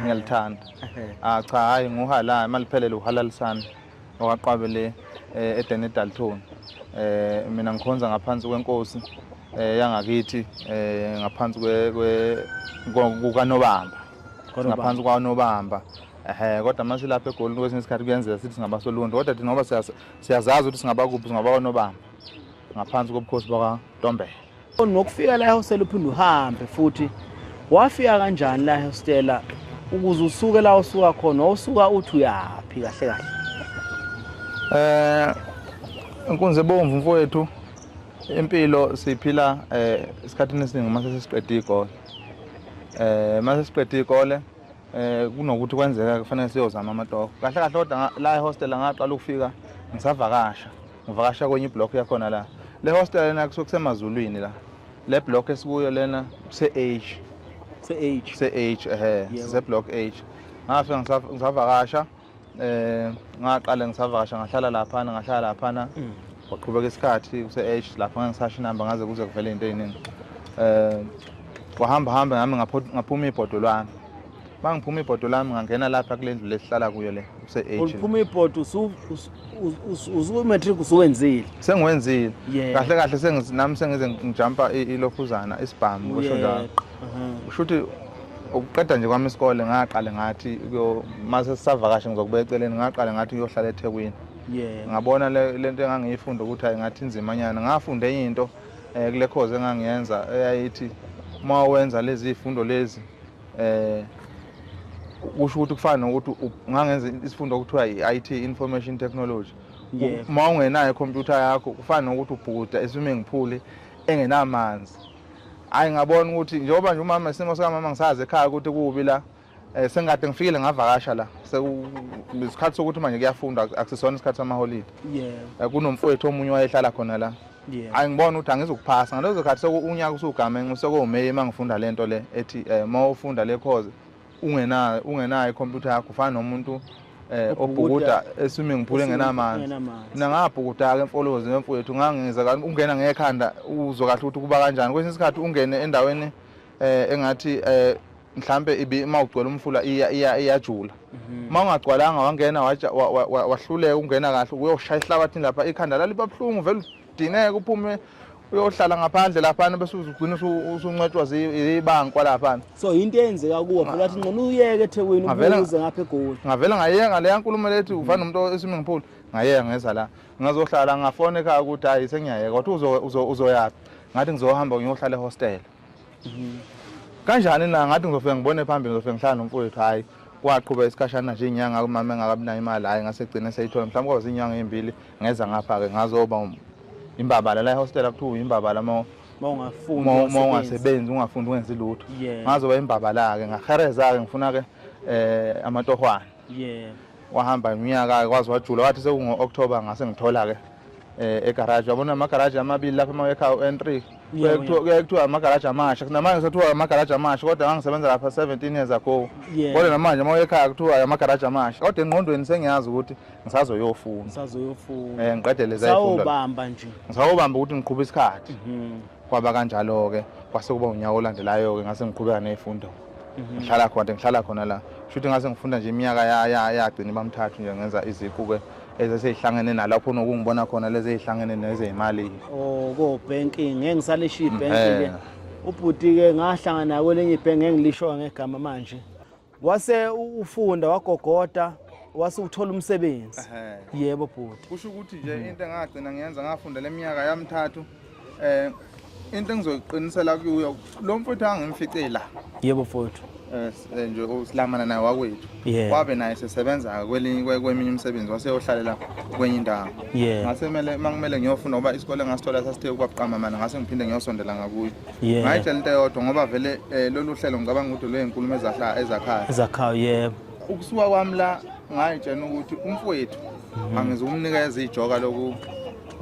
ngiyalithanda ah cha hayi nguhalala maliphelele uhalalisana okwaqwabe le eh, edene edalton eh mina ngikhonza ngaphansi kwenkosi eh yangakithi eh ngaphansi kwe kukanobamba ngaphansi kwanobamba ehe kodwa mase lapha egoli kwesinye isikhathi kuyenzeka sithi singabasoluntu kodwa thina ngoba siyazazi ukuthi singabakuphi singabakwanobamba ngaphansi kobukhosi bakwantombela Ngokufika la ehostela uphinde uhambe futhi wafika kanjani la ehostela ukuze usuke la usuka khona wawusuka uthi uyaphi kahle kahle eh inkunzi ebomvu mfowethu impilo siphila eh isikhathini esiningi uma sesiqeda igole eh uma sesiqeda igole eh kunokuthi kwenzeka kufanele siyozama amatoho kahle kahle kodwa la ehostela ngaqala ukufika ngisavakasha ngivakasha kwenye iblock yakhona la le hostel lena kusuke kusemazulwini la le block esikuyo lena kuse-age se-age se-age ehe siseblock age ngafike ngisavakasha eh ngaqale ngisavakasha ngahlala laphana ngahlala laphana mm. waqhubeka isikhathi kuse-age lapho ngeke ngisasho inamba ngaze kuze kuvele into eyiningi um eh, wahamba hambe ngami ngaphuma ibhodwe lwami Uma ngiphuma ibhodo lami ngangena lapha kule ndlu lesihlala kuyo le use-age. Uliphuma ibhodo usumatric usuwenzile. Sengiwenzile. Kahle kahle senginami sengize ngijumpa ilokhuzana isibhamu kusho njalo. Kusho ukuthi ukuqeda nje kwami isikole ngaqale ngathi mase sisavakashe ngizokuba eceleni ngaqale ngathi ngiyohlala eThekwini. Yeah. Ngabona lento engangiyifunda ukuthi hayi ngathi inzima nyana. Ngafunda enye into eh, kule course engangiyenza eyayithi uma wenza lezi zifundo lezi eh kusho ukuthi kufana nokuthi ungangenza isifundo okuthiwa i-IT information technology uma ungenayo ikhompyutha yakho kufana nokuthi ubhukuda eswimming pool engenamanzi hayi ngabona ukuthi njengoba nje umama isimo sikamama ngisazi ekhaya ukuthi kubi la um sengikade ngifikile ngavakasha la isikhathi sokuthi manje kuyafunda akusisona isikhathi samaholide eh, kunomfowethu omunye wayehlala khona la Yeah. Angibona ukuthi angizukuphasa ngalezo khathi sekuunyaka usugamenxe sekuwumeyi uma ngifunda lento le ethi eh uma ufunda le course ungenayo ungenayo computer yakho ufana nomuntu eh obhukuda eswimming pool engenamanzi mina ngabhukuda ke emfolozi wemfowethu ngangiza ungena ngekhanda uzwa kahle ukuthi kuba kanjani kwesinye isikhathi ungene endaweni eh engathi eh mhlambe ibi uma ugcwele umfula iya iya iyajula mhm. uma ungagcwalanga wangena wahluleka ungena kahle uyoshaya ihlabathini lapha ikhanda laliba buhlungu vele udineke uphume uyohlala ngaphandle laphana bese uzugcina usuncetshwa zibankwa laphana so into eyenzeka kuwe phela athi ngcono uyeke ethekwini ubuze ngapha egoli ngavele ngayenga leya nkulumo lethi ufana nomuntu esiming pool ngayenga ngeza la ngazohlala ngafone ekhaya ukuthi hayi sengiyayeka wathi uzoyaphi ngathi ngizohamba ngiyohlala ehostela kanjani na ngathi ngizofike ngibone phambili ngizofike ngihlala nomfowethu hhayi kwaqhuba isikhashana nje inyanga umama engakabi nayo imali hhayi ngase gcine seyithola mhlawumbe kwaba zinyanga ezimbili ngeza ngapha-ke ngazoba um, imbabala la ehostela kuthiwa uyimbabala uma ungasebenzi ungafundi ungenzi lutho ngazoba imbabala-ke ngahereza-ke ngifuna-ke um eh, amatohwane yeah wahamba iminyaka kwazi wajula wathi sekungo-october ngase ngithola-ke um eh, egaraji wabona amagaraji amabili lapho emawekha u-n three kuyaye kuthiwa amagaraji amasha namanje sekuthiwa amagaraji amasha kodwa ngangisebenza lapha seventeen years ago kodwa namanje uma uyekhaya kuthiwa amagaraji amasha kodwa engqondweni sengiyazi ukuthi ngisazoyofuna ngisazoyofuna um ngiqede lezisawubamba nje ngisawubamba ukuthi ngiqhuba isikhathi mhm. kwaba kanjalo-ke kwase kuba unyaka olandelayo-ke ngase ngiqhubeka ney'fundo Mhm. ngihlala khona ngihlala khona la shuthi ngase ngifunda nje iminyaka yagcina bamthathu nje ngenza iziquke ezeseyihlangene nalapho nokungibona khona lezi ezihlangene nezeyimali oh ko banking ngeke ngisalisho mm, ibanking eh. ubhuti ke ngahlangana kwelinye ibhenki engilisho ngegama manje wase ufunda wagogoda wase uthola umsebenzi yebo bhuti kusho ukuthi nje mm. into engagcina ngiyenza ngafunda leminyaka yamthathu Eh into engizoyiqinisela kuyo lo mfuthu angimfice la. Yebo mfuthu. Eh, eh nje usilamana naye wakwethu. Wabe naye sesebenza kwelinye kweminye umsebenzi waseyohlalela kwenye indawo. Ngase kumele mangimele ngiyofuna ngoba isikole ngasithola sasithe kwaqama mana ngase ngiphinde ngiyosondela ngakuyo. Ngayitshela into eyodwa ngoba vele eh, lolu hlelo ngicabanga ukuthi lwezinkulumo ezakhayo. Ezakhayo yebo. Ukusuka kwami la ngayitshela ukuthi umfowethu mhm. angizukumnikeza ijoka loku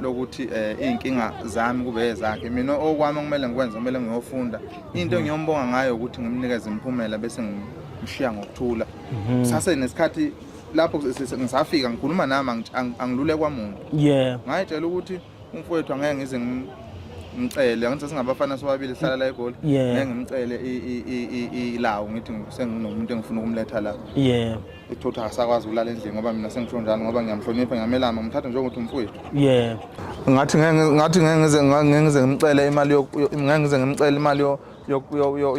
lokuthi eh, iy'nkinga zami kube ezakhe mina okwami okumele ngikwenze kumele ngiyofunda into mm. engiyombonga ngayo ukuthi ngimnikeze imiphumela bese ngimshiya ngokuthula mm-hmm. sase nesikhathi lapho ngisafika ngikhuluma nami angilule kwamuntu yeah ngayitshela ukuthi umfowethu angeke ngize ngimcele angithi singabafana sobabili sihlala la egoli ngeke ngimcele ilawo ngithi senginomuntu engifuna ukumletha la yeah uthotha akasakwazi ukulala endlini ngoba mina sengisho njani ngoba ngiyamhlonipha ngiyamelama ngimthatha njengokuthi umfowethu yeah ngathi ngathi ngeke ngize ngeke ngize ngimcele imali ngeke ngize ngimcele imali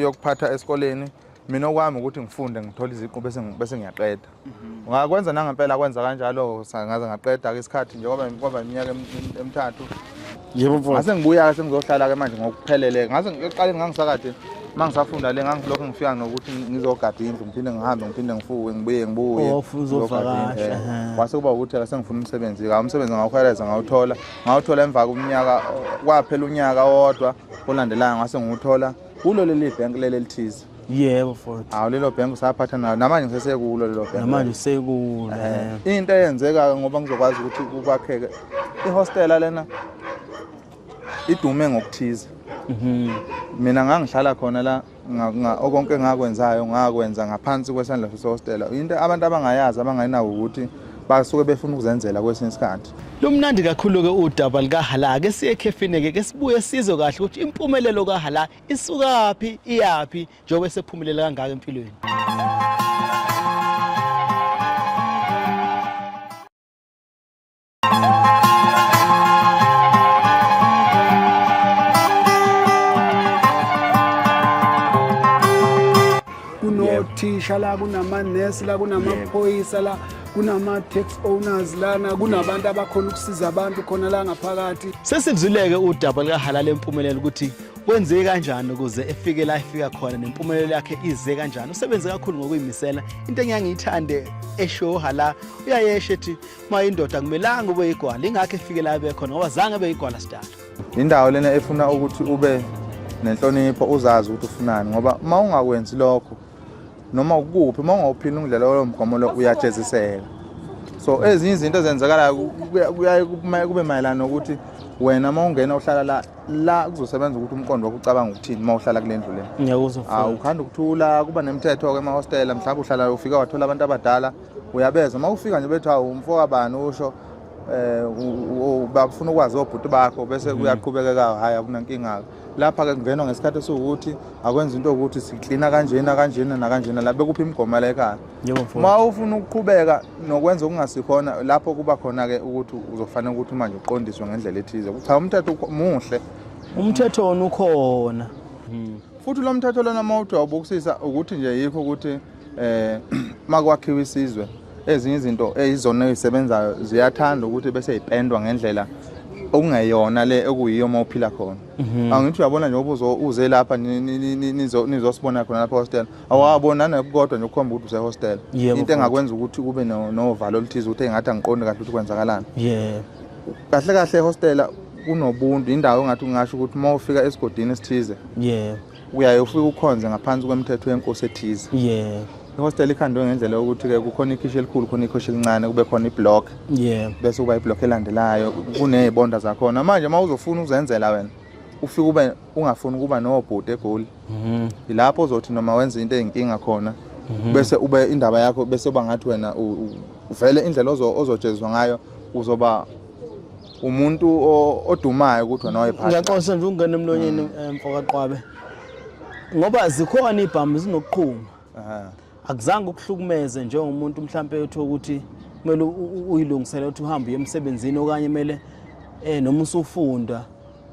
yokuphatha esikoleni mina okwami ukuthi ngifunde ngithole iziqu bese bese ngiyaqeda mhm. ngakwenza nangempela kwenza kanjalo ngaze ngaqeda ke isikhathi nje kwaba kwaba iminyaka emithathu yebo mfowethu ngase ngibuya-ke sengizohlala-ke manje ngokuphelele ngase ekuqaleni ngangisakade uma ngisafunda le ngangilokhu ngifika nokuthi ngizogada indlu ngiphinde ngihambe ngiphinde ngifuke ngibuye ngibuye oh, kwase kuba ukuthi-ke sengifuna umsebenzi-ke umsebenzi ngawukhweleza ngawuthola ngawuthola emva komnyaka kwaphela unyaka wodwa olandelayo ngase ngiwuthola kulo leli bhenki leli elithize yebo futhi hawu lelo bhengu usaphatha nalo namanje ngisesekulo lelo bhengu namanje usekulo eh. into eyenzeka ngoba ngizokwazi ukuthi kwakheke ihostela lena idume ngokuthize mhm. mina ngangihlala khona la okonke engakwenzayo ngakwenza ngaphansi kwesandla sesihostela into abantu abangayazi abangayinawo ukuthi basuke befuna ukuzenzela kwesinye isikhathi lumnandi kakhulu-ke udaba lukahala ke siye ekhefini-ke ke sibuye sizwe kahle ukuthi impumelelo kahala isukaphi iyaphi njengoba esephumelele kangaka empilweni kunothisha la kunamanesi la kunamaphoyisa la kunama-tax owners lana kunabantu abakhona ukusiza abantu khona la ngaphakathi sesizuleke udaba likahalala empumelelo ukuthi Kwenzeke kanjani ukuze efike la efika khona nempumelelo yakhe ize kanjani? Usebenze kakhulu ngokuyimisela. Into engiyangiyithande eshoha la uyayesha ethi uma indoda kumelanga ube igwala ingakho efike la ebe khona ngoba zange ebe igwala sidala. Indawo lena efuna ukuthi ube nenhlonipho uzazi ukuthi ufunani ngoba uma ungakwenzi lokho noma ukuphi uma ungawuphini ungidlela lowo mgomo lo uyajeziseka so ezinye izinto ezenzakalayo kuyaye kube mayelana nokuthi wena uma ungena uhlala la la kuzosebenza ukuthi umqondo wakho ucabanga ukuthini uma uhlala kule ndlu lena ngiyakuzwa awu ukhanda ukuthula kuba nemithetho-ke emahostela mhlawumbe uhlala ufika wathola abantu abadala uyabezwa uma ufika nje bethi hawu umfo kabani usho um bafuna ukwazi obhuti bakho bese mm. kuyaqhubekeka hhayi akunankinga-ke lapha-ke kungenwa ngesikhathi esiwukuthi akwenza into yokuthi siklina kanjena kanjena nakanjena la bekuphi imigomo la ekhaya uma ufuna ukuqhubeka nokwenza okungasikhona lapho kuba khona-ke ukuthi uzofanele ukuthi manje uqondiswe ngendlela ethize cha umthetho muhle umthetho wona ukhona hmm. futhi lo mthetho lona uma uthi wawubukisisa ukuthi nje yikho ukuthi um eh, makwakhiwa isizwe ezinye izinto ezizona ezisebenzayo ziyathanda ukuthi bese yipendwa ngendlela okungeyona le okuyiyo uma uphila khona mhm. angithi uyabona njengoba uze lapha nizosibona khona lapha hostela awabo nanokukodwa nje ukukhomba ukuthi usehostel into engakwenza ukuthi kube novalo oluthize ukuthi engathi angiqondi kahle ukuthi kwenzakalani yebo kahle kahle ehostela kunobuntu indawo engathi ungasho ukuthi uma ufika esigodini esithize yebo uyaye ufike ukhonze ngaphansi kwemthetho yenkosi ethize yebo ihostel ikhandwe ngendlela yokuthi ke kukhona ikhishi elikhulu khona ikhishi elincane kube khona iblock yeah bese kuba iblock elandelayo kunezibonda zakhona manje uma uzofuna uzenzela wena ufike ube ungafuni ukuba nobhuti egoli mhm. yilapho uzothi noma wenza into eyinkinga khona mhm. bese ube indaba yakho bese uba ngathi wena uvele indlela ozojeziswa ngayo uzoba umuntu odumayo ukuthi wena wayephatha ngiyaxosa nje ungena emlonyeni mm. eh, mfokaqwabe ngoba zikhona ibhamu zinokuqhuma akuzange ukuhlukumeze njengomuntu mhlampe uthi ukuthi kumele uyilungisele ukuthi uhambe uye emsebenzini okanye kumele eh noma usufunda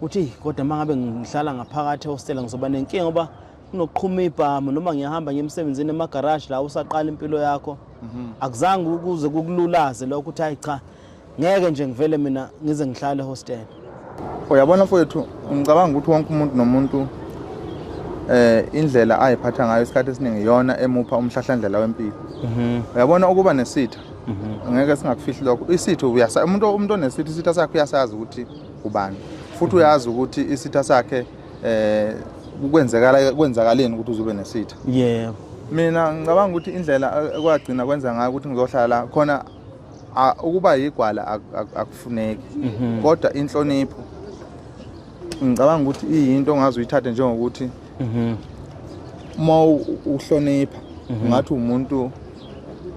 uthi kodwa mangabe ngihlala ngaphakathi ehostela ngizoba nenkinga ngoba kunoqhuma ibhamu noma ngiyahamba ngiyemsebenzini emagaraji la usaqala impilo yakho mhm. akuzange ukuze kukululaze lokho ukuthi hayi cha ngeke nje ngivele mina ngize ngihlale hostel uyabona mfowethu ngicabanga ukuthi wonke umuntu nomuntu eh indlela ayiphatha ngayo isikhathi esiningi iyona emupha umhlahlandlela wempilo mhm. uyabona ukuba nesitha mhm. ngeke singakufihli lokho isitha uyasa umuntu umuntu onesitha isitha sakhe uyasazi ukuthi ubani futhi uyazi ukuthi isitha sakhe eh kwenzekala kwenzakaleni ukuthi uzobe nesitha yebo mina ngicabanga ukuthi indlela ekwagcina kwenza ngayo ukuthi ngizohlala khona ukuba yigwala akufuneki mhm. kodwa inhlonipho ngicabanga ukuthi iyinto ongaze uyithathe njengokuthi mhm. uma uhlonipha mhm. ungathi umuntu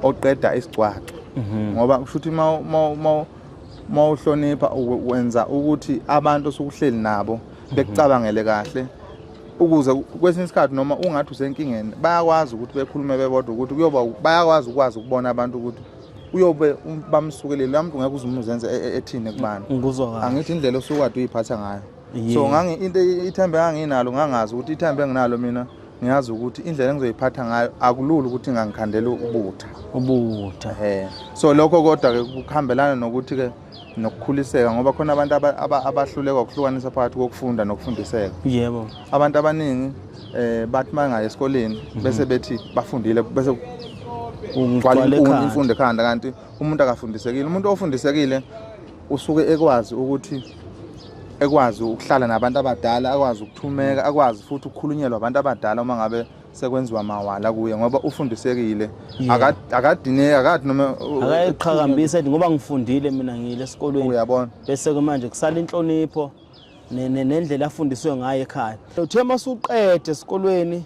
oqeda isigcwaxa ngoba kusho ukuthi uma uhlonipha wenza ukuthi abantu osukuhleli nabo bekucabangele kahle ukuze kwesinye isikhathi noma ungathi usenkingeni bayakwazi ukuthi bekhulume bebodwa ukuthi kuyoba bayakwazi ukwazi ukubona abantu ukuthi uyobe um, bamsukelele lamuntu ngeke uzumuzenze e, e, ethini kubani angithi indlela osukade uyiphatha ngayo so ngangi into ithembe anginalo ngangazi ukuthi ithembe enginalo mina ngiyazi ukuthi indlela engizoyiphatha ngayo akulula ukuthi ngangikhandela ubutha ubutha so lokho kodwa ke kuhambelana nokuthi ke nokukhuliseka ngoba khona abantu abahluleka ukuhlukanisa phakathi kokufunda nokufundiseka yebo abantu abaningi eh bathi mangaye esikoleni mhm. bese bethi bafundile bese ungqwala imfundo ekhanda kanti umuntu akafundisekile umuntu ofundisekile usuke ekwazi ukuthi ekwazi ukuhlala nabantu abadala akwazi ukuthumeka akwazi futhi ukukhulunyelwa abantu abadala uma ngabe sekwenziwa mawala kuye ngoba ufundisekile yeah. akadineki akathi noma akayiqhakambisa ethi ngoba ngifundile mina ngile esikolweni uyabona bese ke manje kusala inhlonipho nendlela afundiswe ngayo ekhaya uthe masuqede esikolweni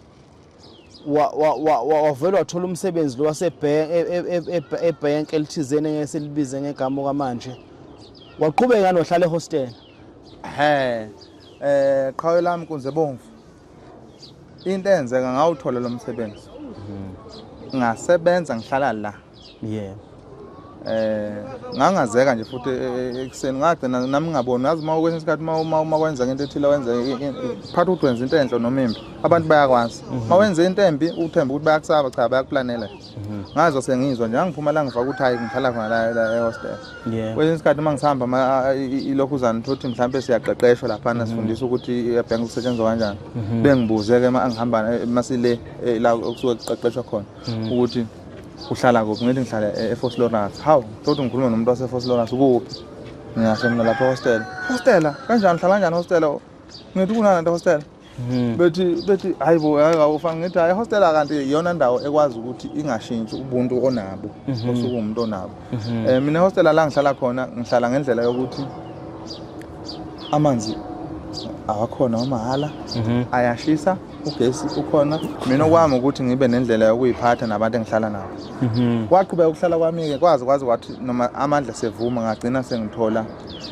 wavele wathola umsebenzi lo wasebhenki elithizeni engeke silibize ngegama okwamanje waqhubeka nohlala ehostela he um qhawe lami kunze bomvu into eyenzeka ngawuthola lo msebenzi mhm. ngasebenza ngihlala la yebo eh ngangazeka nje futhi e, e, e, ekuseni ngagcina nami ngaboni ngazi uma kwesinye isikhathi uma uma kwenzeka into ethile wenze phatha ukuthi wenza into enhle noma imbi abantu bayakwazi uma mhm. wenza into embi uthemba ukuthi bayakusaba cha bayakuplanela Mhm. ngazo sengizwa nje angiphuma la ngifaka ukuthi hayi ngihlala khona la la ehostel Yeah. kwesinye isikhathi uma ngihamba ama- a- i- i- ilokhuzana thothi mhlawumbe siyaqeqeshwa laphana Mhm. sifundisa ukuthi i-bank kusetshenzwa kanjani Mhm. bengibuze-ke ma angihamba eh, masile eh, la okusuke kuqeqeshwa khona Mhm. ukuthi uhlala kuphi ngithi ngihlala e- efos lawrence hawu thothi ngikhulume nomuntu wasefos lawrence ukuphi ngingasho mina lapha ehostela hostela kanjani uhlala kanjani hostela ngithi kunani nto hostela Hmm. bethi bethi hayi bo awufanga ngithi hayi hostela kanti iyona ndawo ekwazi ukuthi ingashintshi ubuntu onabo mhm. osuke umuntu onabo mhm. eh mina hostela la ngihlala khona ngihlala ngendlela yokuthi amanzi awakhona wamahhala mhm. ayashisa ugesi ukhona mina okwami ukuthi ngibe nendlela yokuyiphatha nabantu engihlala nabo mhm. kwaqhubeka ukuhlala kwami-ke kwazi kwazi kwathi noma amandla sevuma ngagcina sengithola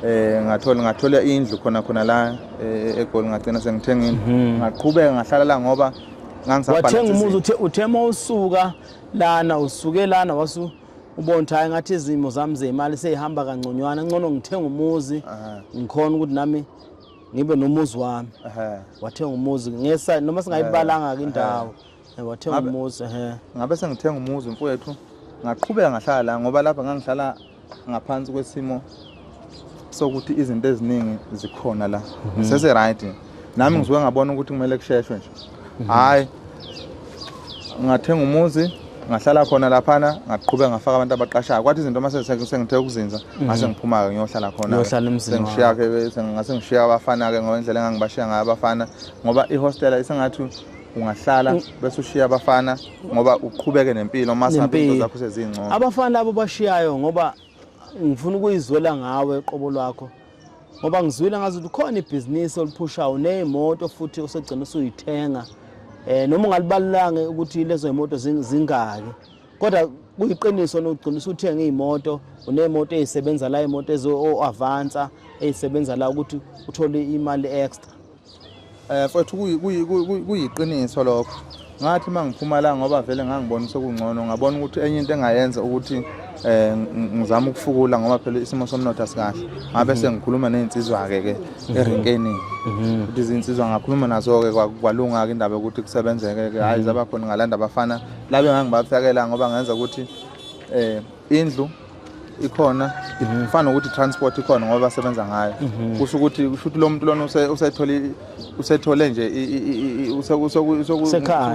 um ngathola ngathola indlu khona khona la eh, egoli ngagcina sengithengile mhm. ngaqhubeka ngahlala la ngoba ngangisawathenga umuzi uthe uthe uma usuka lana usuke lana wasu ubona ukuthi hayi ngathi izimo zami zemali seyihamba kangconywana ngcono ngithenga umuzi ngikhona ukuthi nami ngibe nomuzi wami wathenga umuzi noma singayibalanga-ke indawo wathenga umuzi ngabe sengithenga umuzi mfowethu ngaqhubeka ngahlala la ngoba lapha ngangihlala ngaphansi kwesimo sokuthi izinto eziningi zikhona la mhm. sese right nami mhm. ngisuke ngabona ukuthi kumele kusheshwe nje mhm. hayi ngathenga umuzi ngahlala khona laphana ngaqhubeka ngafaka abantu abaqashayo kwathi izinto uma sengithe ukuzinza ngase ngiphuma-ke ngiyohlala khonasengishiyake ngase ngishiya abafana-ke ngoba indlela engangibashiya ngayo abafana ngoba ihostela isengathi ungahlala mm. bese ushiya abafana ngoba uqhubeke nempilo uma singabe into zakho sezingcono abafana labo bashiyayo ngoba ngifuna ukuyizwela ngawe qobo lwakho ngoba ngizwile ngazi ukuthi khona ibhizinisi oliphushayo neyimoto futhi usegcina usuyithenga eh noma ungalibalulanga ukuthi lezo imoto zingaki kodwa kuyiqiniso nogcina usuthenga imoto unemoto ezisebenza la imoto ezo avansa ezisebenza la ukuthi uthole imali extra Eh mfethu kuyiqiniso lokho. Ngathi uma ngiphuma la ngoba vele ngangibona sekungcono ngabona ukuthi enye into engayenza ukuthi eh ngizama ukufukula ngoba phela isimo somnotho asikahle. Ngabe mhm. sengikhuluma nezinsizwa ke ke mhm. erenkeni. Mhm. Ukuthi izinsizwa ngakhuluma nazo ke kwalunga ke indaba yokuthi kusebenzeke ke hayi zabakhona ngalanda abafana labe ngangibafakela ngoba ngenza ukuthi eh indlu ikhona ngifana ukuthi transport ikhona ngoba basebenza ngayo mhm. kusho ukuthi kusho ukuthi lo muntu lona usethole usethole nje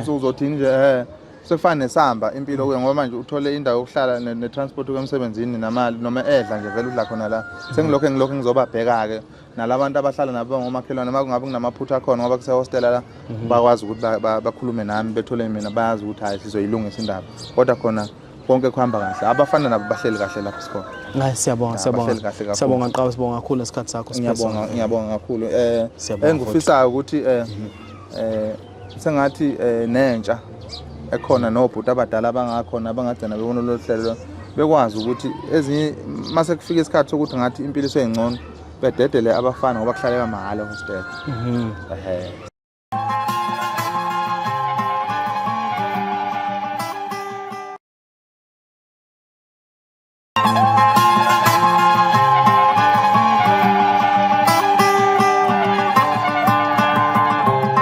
uzothi nje eh sekufana nesamba impilo kuye ngoba manje uthole indawo yokuhlala ne-transport kuye emsebenzini namali noma edla nje vele udla khona la sengilokhu engilokhu ngizobabheka-ke nalabantu abahlala nabo ngomakhelwane uma kungabe kunamaphutha akhona ngoba kusehostela la mhm. bakwazi ukuthi bakhulume nami bethole mina bayazi ukuthi hhayi sizoyilungisa indaba kodwa khona konke kuhamba kahle abafana nabo bahleli kahle lapho sikhona hayi siyabonga siyabonga siyabonga qaba sibonga kakhulu ngesikhathi sakho ngiyabonga ngiyabonga kakhulu eh engifisayo ukuthi eh mhm. eh sengathi eh, nentsha ekhona nobhuti abadala abangakhona abangagcina bebona lolu hlelo bekwazi ukuthi ezinye uma sekufika isikhathi sokuthi ngathi impilo iseyingcono bededele abafana ngoba kuhlaleka mahhala hostel mhm.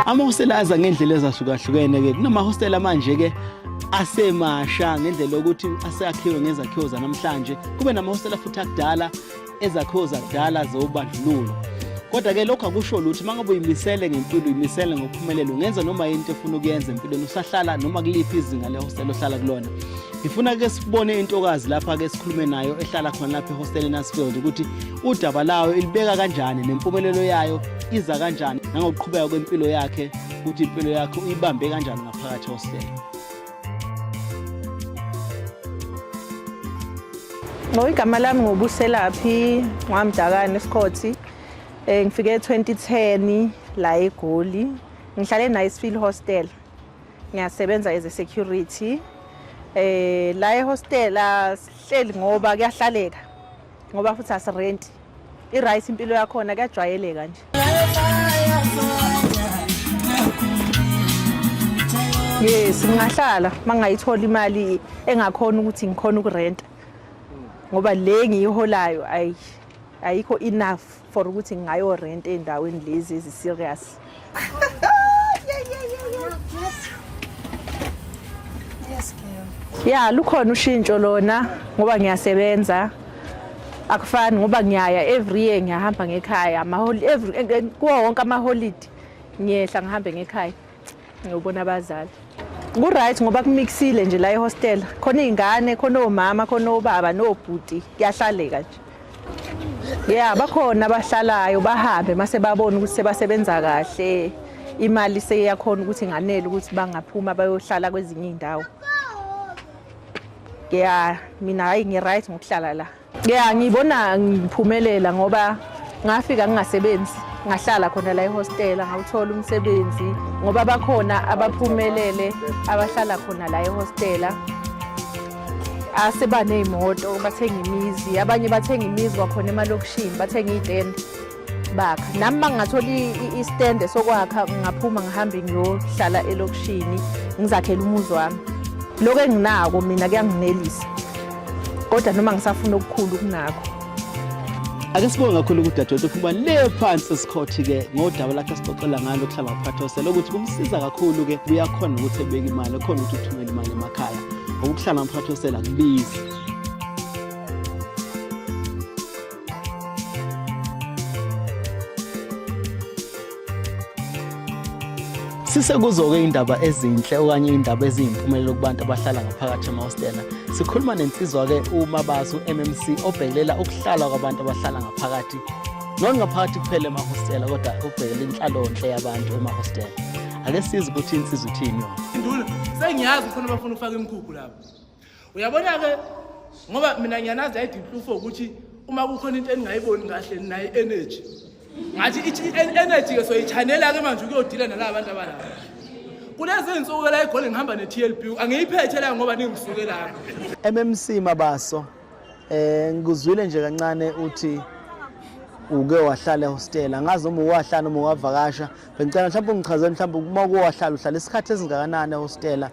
amahostela aza ngendlela ezahlukahlukene-ke kunamahostela manje-ke asemasha ngendlela yokuthi aseyakhiwe ngezakhiwo zanamhlanje kube namahostela futhi akudala ezakhiwo zakudala zobandlululo kodwa ke lokho akusho lutho uma ngabe uyimisele ngempilo uyimisele ngokuphumelela ungenza noma yini into efuna ukuyenza empilweni usahlala noma kuliphi izinga lehostela ohlala kulona ngifuna ke sibone intokazi lapha ke sikhulume nayo ehlala khona lapha ehostela eNasfield ukuthi udaba layo ilibeka kanjani nempumelelo yayo iza kanjani nangokuqhubeka kwempilo yakhe ukuthi impilo yakhe uyibambe kanjani ngaphakathi ehostela No, igama lami ngobuselaphi ngwamdakane esikhothi um ngifike e-2010 la egoli ngihlale e-nicefield hostel ngiyasebenza as a security um la ehostela sihleli ngoba kuyahlaleka ngoba futhi asirenti I-right impilo yakhona kuyajwayeleka nje. Yes, ngingahlala mangayithola imali engakhona ukuthi ngikhona ukurenta. Ngoba le ngiyiholayo ayi ayikho enough for ukuthi ngayo rent endaweni lezi ezi serious. ya lukhona ushintsho lona ngoba ngiyasebenza akufani ngoba ngiyaya every year ngiyahamba ngekhaya kuwo wonke amaholidi ngiyehla ngihambe ngekhaya Ngiyobona abazali. Ku-right ngoba kumixile nje la ehostela. Khona iy'ngane, khona omama, khona obaba nobhuti. Kuyahlaleka nje. Yeah, bakhona abahlalayo bahambe mase babona ukuthi sebasebenza kahle. Imali seyakhona ukuthi nganele ukuthi bangaphuma bayohlala kwezinye iy'ndawo. Yeah, mina hayi ngi-right ngokuhlala la. Yeah, ngibona ngiphumelela ngoba ngafika ngingasebenzi ngahlala khona la ehostela ngawuthola umsebenzi ngoba bakhona abaphumelele abahlala khona la ehostela asebaney'moto bathenga imizi abanye bathenga imizi kwakhona emalokishini bathenga iy'tende bakha nami mangingathola istende sokwakha ngaphuma ngihambe ngiyohlala elokishini ngizakhele umuzi wami lokho enginako mina kuyanginelisa kodwa noma ngisafuna okukhulu kunakho ake sibonge kakhulu kudadewethu ukuba le phansi esikhothi-ke ngodaba lakhe sixoxela ngalo kuhlala kuphathose lokuthi kumsiza kakhulu-ke kuyakhona ukuthi ebeke imali ekhona ukuthi uthumele imali emakhaya ngokuhlala mphathosela kubizi Sisekuzo-ke indaba ezinhle okanye indaba eziyimpumelelo kubantu abahlala ngaphakathi emahostela. Sikhuluma nensizwa-ke uMabazi u-MMC obhekelela ukuhlala kwabantu abahlala ngaphakathi. Not ngaphakathi kuphela emahostela kodwa ubhekela inhlalonhle yabantu emahostela. Ake size ukuthi insizwa ithini yona. Induna, sengiyazi khona bafuna ukufaka imkhukhu lapho. uyabona-ke ngoba mina ngiyanazi ayidinhlufo ukuthi uma kukhona into eningayiboni kahle nayo energy ngathi i-energy-ke soyichanela-ke manje ukuyodila nalaba bantu abalaba kulezi nsuku la igoli ngihamba ne-tlb angiyiphethe la ngoba ningisuke lapho mmc mabaso eh ngikuzwile nje kancane uthi uke wahlala ehostel angazi noma uwahlala noma uwavakasha bengicela mhlawumbe ungichazele mhlawumbe uma uke wahlala uhlala isikhathi esingakanani ehostela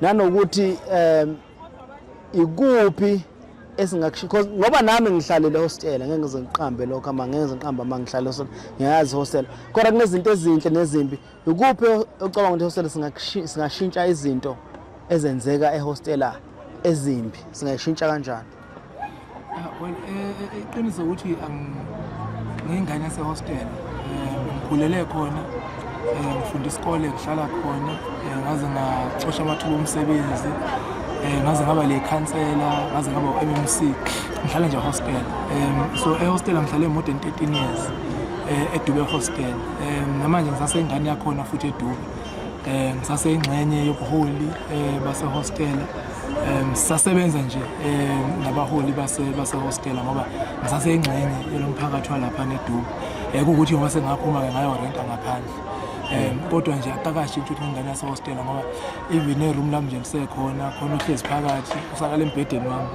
nanokuthi um ikuphi esingakusho because ngoba nami ngihlalele hostela ngeke ngize ngiqambe lokho ama ngeke ngize ngiqambe ama ngihlale hostela ngiyazi hostela kodwa kunezinto ezinhle nezimbi ikuphi ocabanga ukuthi hostela singashintsha izinto ezenzeka ehostela ezimbi singayishintsha kanjani Ah, well eh, eh, iqiniso ukuthi ngiyingane yasehostel eh, ngikhulele khona ngifunda isikole ngihlala khona ngaze ngacosha amathuba omsebenzi ngaze ngaba le khansela ngaze ngaba u-mmc ngihlale nje hostel um so ehostel ngihlale more than 13 years um edube hostel um namanje ngisasengane yakhona futhi edube eh ngisaseyingxenye yobuholi eh basehostela eh sisasebenza nje eh nabaholi base basehostela ngoba ngisaseyingxenye yelomphakathi walapha neDubu eh ukuthi ngoba sengaphuma ke ngayo renta ngaphandle eh kodwa nje akakashi ukuthi ingane yasehostela ngoba even e room lami nje ngisekhona khona uhlezi phakathi usakala embhedeni wami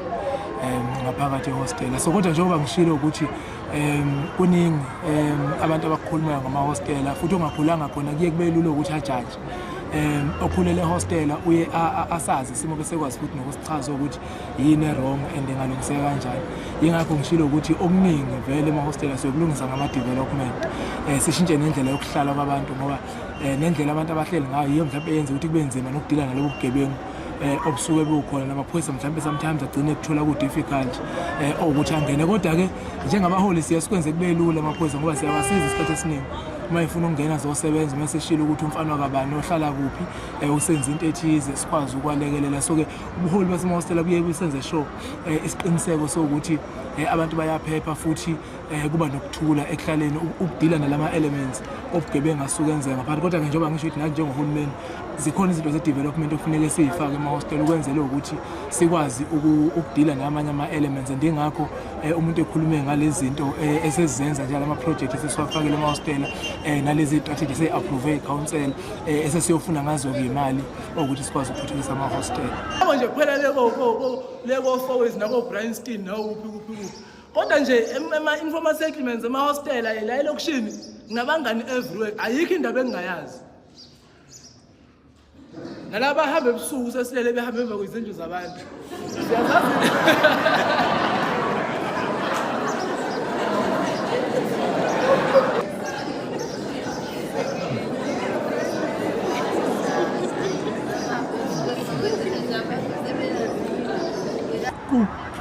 eh ngaphakathi ehostela so kodwa njengoba ngishilo ukuthi um kuningi um abantu abakhulumayo ngamahostela futhi ongakhulanga khona kuye kube lula ukuthi ajaje um okhulele ehostela uye asazi isimo bese kwazi futhi nokusichaza ukuthi yini erong and engalungiseka kanjani yingakho ngishilo ukuthi okuningi vele emahostela siyokulungisa ngama-development um sishintshe nendlela yokuhlala kwabantu ngoba um nendlela abantu abahleli ngayo yiyo mhlawumbe yenza ukuthi kube nzima nokudila nalobo bugebengu eh obusuke bukhona namaphoyisa mhlawumbe sometimes agcine kuthola ku difficult eh ukuthi angene kodwa ke njengabaholi siya sikwenze kube lula amaphoyisa ngoba siyabasiza isikhathi esiningi uma ifuna ukungena zosebenza uma seshilo ukuthi umfana wakabani ohlala kuphi eh usenza into ethize sikwazi ukwalekelela so ke ubuholi basemahostela buye busenze sure eh, isiqiniseko sokuthi eh, abantu bayaphepha futhi eh kuba nokuthula ekuhlaleni ukudila nalama elements obugebengu asuke enzeka ngaphansi kodwa ke njengoba ngisho ukuthi nathi njengohulumeni zikhona izinto ze-development okufuneke siyifake emahostel ukwenzele ukuthi sikwazi ukudila namanye ama-elements and ingakho um umuntu ekhulume ngalezi zinto um eh, esezenza njalo ama-project esesiwafakele emahostela um eh, nalezi strategy sey-approve ikhansela um eh, esesiyofuna ngazo-ke imali okuthi sikwazi ukuthuthukisa amahostela nje kuphela lekofowezi nakobrinstein nawukuphi kuphi kuphi kodwa nje ema-informal settlements emahostela la elokishini nginabangani everywhere ayikho indaba engingayazi nalaba bahamba ebusuku sesilele behamba emva kwezindlu zabantu siyazazi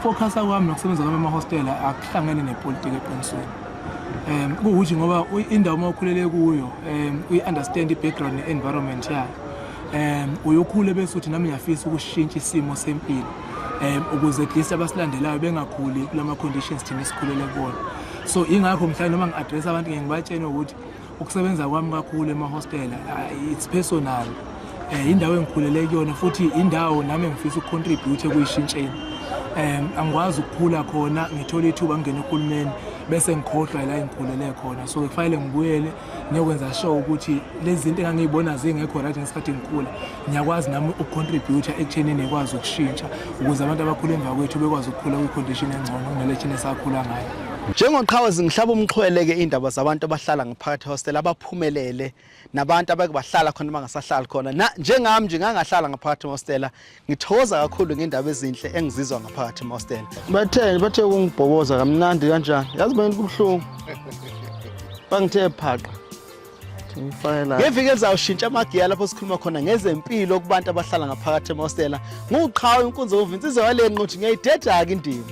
Focusa kwami nokusebenza kwami amahostela akuhlangene nepolitiki eqinisweni um kuwukuthi ngoba indawo uma ukhulele kuyo um uyi-understand i-background ne-environment yayo um uyokhule bese uthi nami ngiyafisa ukushintsha isimo sempilo um ukuze at least abasilandelayo bengakhuli kula ma-conditions thina esikhulele kuwona so ingakho mhlawumbe noma ngi-address abantu ngeke ngibatshene ukuthi Ukusebenza kwami kakhulu emahostela uh, it's personal um indawo engikhulele kuyona futhi indawo nami engifisa ukucontribute ekuyishintsheni um angikwazi ukukhula khona ngithole ithuba ngingena uhulumeni bese ngikhohlwa la engikhulele khona so kufanele ngibuyele ngiyokwenza sure ukuthi lezi zinto engangiyibona zingekho right ngesikhathi ngikhula ngiyakwazi nami ukucontributor ekuthenini ngikwazi ukushintsha ukuze abantu abakhula emva kwethu bekwazi ukukhula kwicondition engcono kunale thina esakhula ngayo njengoqhawe zingihlaba umxhwele ke indaba zabantu abahlala ngaphakathi hostel abaphumelele nabantu abake bahlala khona bangasahlali khona na njengami nje ngangahlala ngaphakathi hostela ngithokoza kakhulu ngendaba ezinhle engizizwa ngaphakathi hostela batheni bathe kungibhoboza kamnandi kanjani yazi bani kubuhlungu bangithe phaqa ngeviki elizayo shintsha amagiya lapho sikhuluma khona ngezempilo kubantu abahlala ngaphakathi emahostela nguqhawe inkunzi okuva insizwa yale nqothi ngiyayideda-ke indima